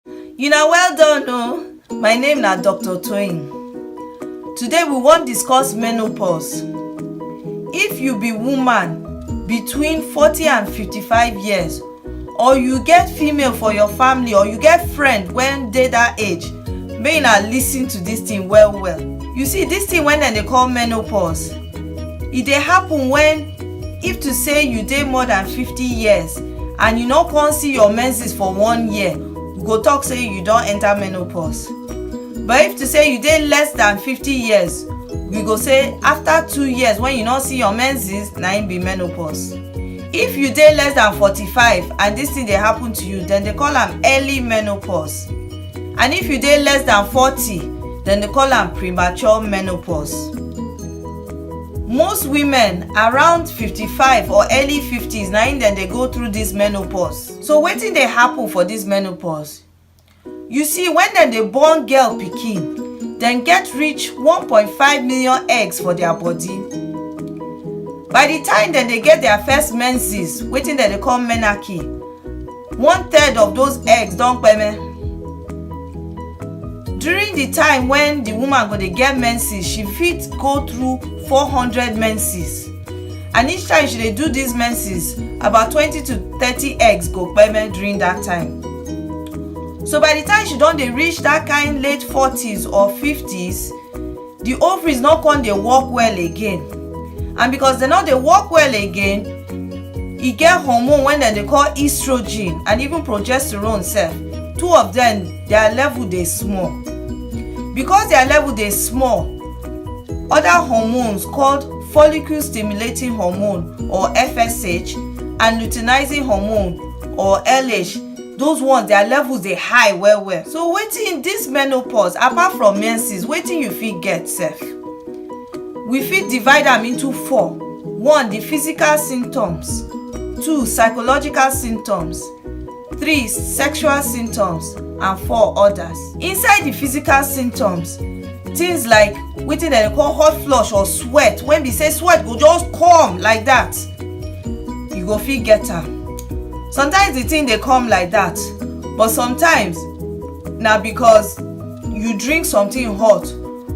You na well done o. My name na Dr. Toyin. Today we wan discuss menopause. If you be woman between 40 and 55 years or you get female for your family or you get friend wen dey dat age, make una lis ten to dis thing well well. You see dis thing wey dem dey call menopause, e dey happen wen if to say you dey more than 50 years and you no come see your menses for one year you go talk say you don enter menopause but if to say you dey less than fifty years we go say after two years when you no see your menses na im be menopause if you dey less than forty-five and this thing dey happen to you dem dey call am early menopause and if you dey less than forty dem dey call am premature menopause most women around 55 or early 50s na im dem dey go through this menopause so wetin dey happen for this menopause you see when dem dey born girl pikin dem get reach 1.5 million eggs for their body by the time dem dey get their first menses wetin dem dey call menarche one third of those eggs don kpeme during the time when the woman go dey get menses she fit go through 400 menses and each time she dey do these menses about 20 to 30 eggs go kpeme during that time so by the time she don dey reach that kind late 40s or 50s the ovaries no come dey work well again and because dem no dey work well again e get hormone wey dem dey call estrogen and even progesterone sef two of dem their level dey small because their level dey small other hormones called follicle stimulating hormone or fsh and luteinizing hormone or lh those ones their levels dey high well well so wetin this menopause apart from menses wetin you fit get sef we fit divide am into four one the physical symptoms two psychological symptoms three sexual symptoms and four others inside the physical symptoms things like wetin dem dey call hot flush or sweat when be say sweat go just come like that you go fit get am sometimes the thing dey come like that but sometimes na because you drink something hot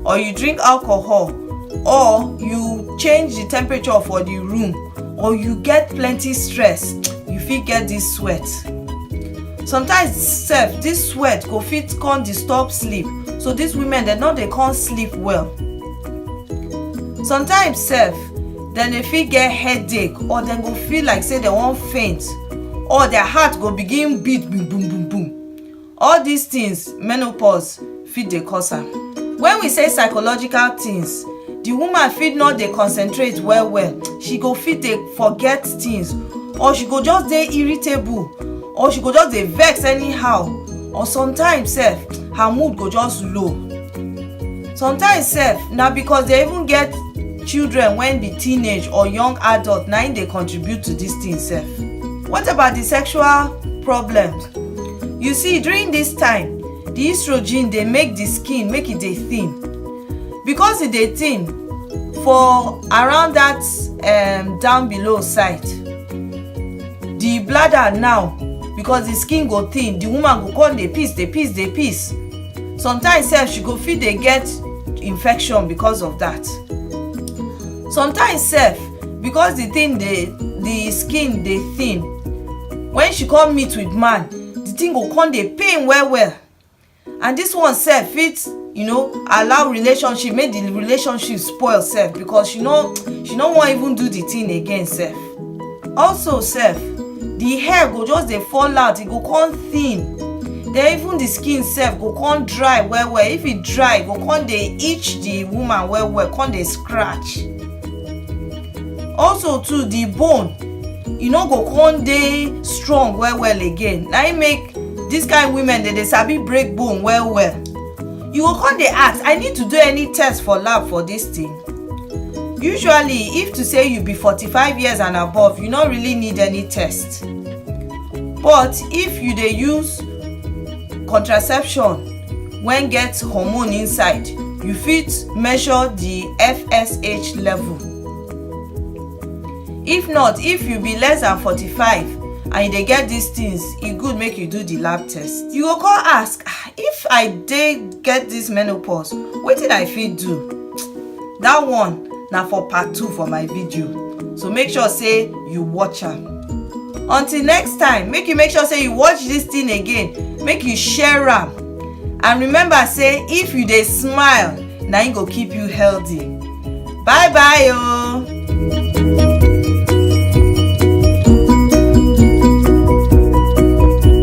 or you drink alcohol or you change the temperature for the room or you get plenty stress you fit get this sweat sometimes sef this sweat go fit come disturb sleep so these women dem no dey come sleep well sometimes sef dem dey fit get headache or dem go feel like say dem wan faint or their heart go begin beat boom boom boom boom all these things menopause fit dey cause am. Wen we say psychological tins, di woman fit no dey concentrate well well, she go fit dey forget tins or she go just dey irritable or she go just dey vex anyhow or sometimes sef her mood go just low. Sometimes sef na because dey even get children wen be teenage or young adult na im dey contribute to dis tin sef. What about di sexual problems? You see during dis time, the estrogen dey make the skin make e dey thin because e dey thin for around that um, down below side the bladder now because the skin go thin the woman go come dey piss dey piss dey piss sometimes sef she go fit dey get infection because of that sometimes sef because the thing dey the skin dey thin when she come meet with man the thing go come dey pain well well and this one sef fit you know allow relationship make the relationship spoil sef because she no she no wan even do the thing again sef also sef the hair go just dey fall out e go come thin then even the skin sef go come dry well well if e dry e go come dey itch the woman well well come dey scratch also too the bone e no go come dey strong well well again na im make this kind women dey dey sabi break bone well well you go come dey ask i need to do any test for lab for this thing usually if to say you be forty-five years and above you no really need any test but if you dey use contraception wen get hormone inside you fit measure di fsh level if not if you be less than 45 and you dey get dis things e good make you do di lab test you go come ask ah, if i dey get dis menopause wetin i fit do that one na for part two for my video so make sure say you watch am until next time make you make sure say you watch this thing again make you share am and remember say if you dey smile na im go keep you healthy bye bye o. Oh.